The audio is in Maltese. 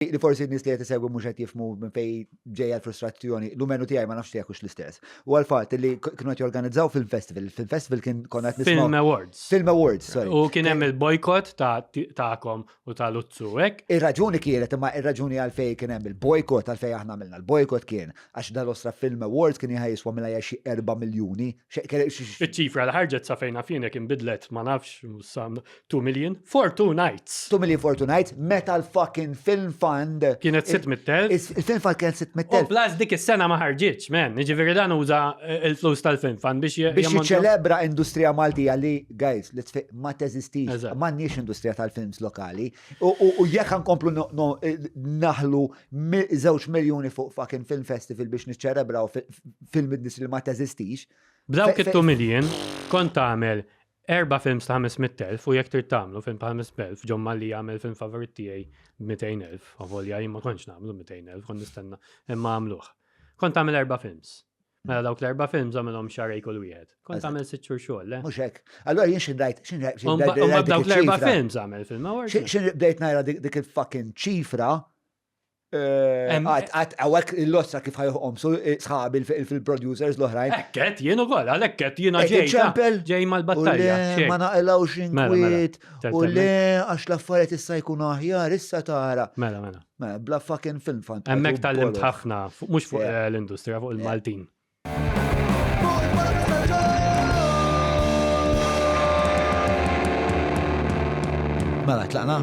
li forsi n-nis li jtisegwi mux għet jifmu minn fej ġeja l-frustrazzjoni, l-umenu tijaj ma nafx jekux l-istess. U għal-fat li kienu għet jorganizzaw film festival, film festival kien konna għet nisma. Film Awards. Film Awards, sorry. U kien hemm il-bojkot ta'kom u ta' Luzzu, ek? Il-raġuni kienet, imma il-raġuni għal-fej kien hemm il-bojkot għal-fej aħna għamilna. Il-bojkot kien, għax dal-ostra film Awards kien jħajiswa mela jaxi 4 miljoni. Iċ-ċifra l-ħarġet sa' fejna fina kien bidlet, ma nafx, Two Million Fortunites. Two Million Fortunites, meta l-fucking Film Fund. Kienet 600,000. Il-Film Fund kienet 600,000. Plus dik is-sena ma ħarġitx, men. Jiġifieri dan uża l-flus tal-Film Fund biex Biex jiċċelebra industrija Maltija li, guys, li tfiq ma teżistix. M'għandniex industrija tal-films lokali. U jekk nkomplu naħlu żewġ miljuni fuq fucking film festival biex niċċelebraw film industry li ma teżistix. B'dawk it-two million kont tagħmel Erba' films ta' 500,000 u jekk trid tagħmlu film ta' 500,000, John Malli jagħmel film favorit tiegħi b'200,000, avolja jien ma kontx nagħmlu 200,000, kont nistenna imma għamluh. Kont tagħmel erba' films. Mela dawk l-erba' films għamilhom xarej kull wieħed. Kont tagħmel sitt xhur xogħol, le? Mhux hekk. Allura jien xi dajt, xi dajt. Dawk l-erba' films għamel film, ma Xi bdejt ngħira dik il-fucking ċifra Għat, għawek l-lossa kif ħajħom, su eh, sħabi fil-producers l-oħrajn. Ekket, jenu għol, għalekket jena ġej. ċempel, ġej mal-battalja. Ma naqlaw xinkwit, mela, u le għax l-affariet issa jkun aħjar, issa tara. Mela, mela. Mela, bla fucking film fan. Emmek tal-limt ħafna, mux fuq eh, l-industrija, fuq il-Maltin. Mela, tlaqna.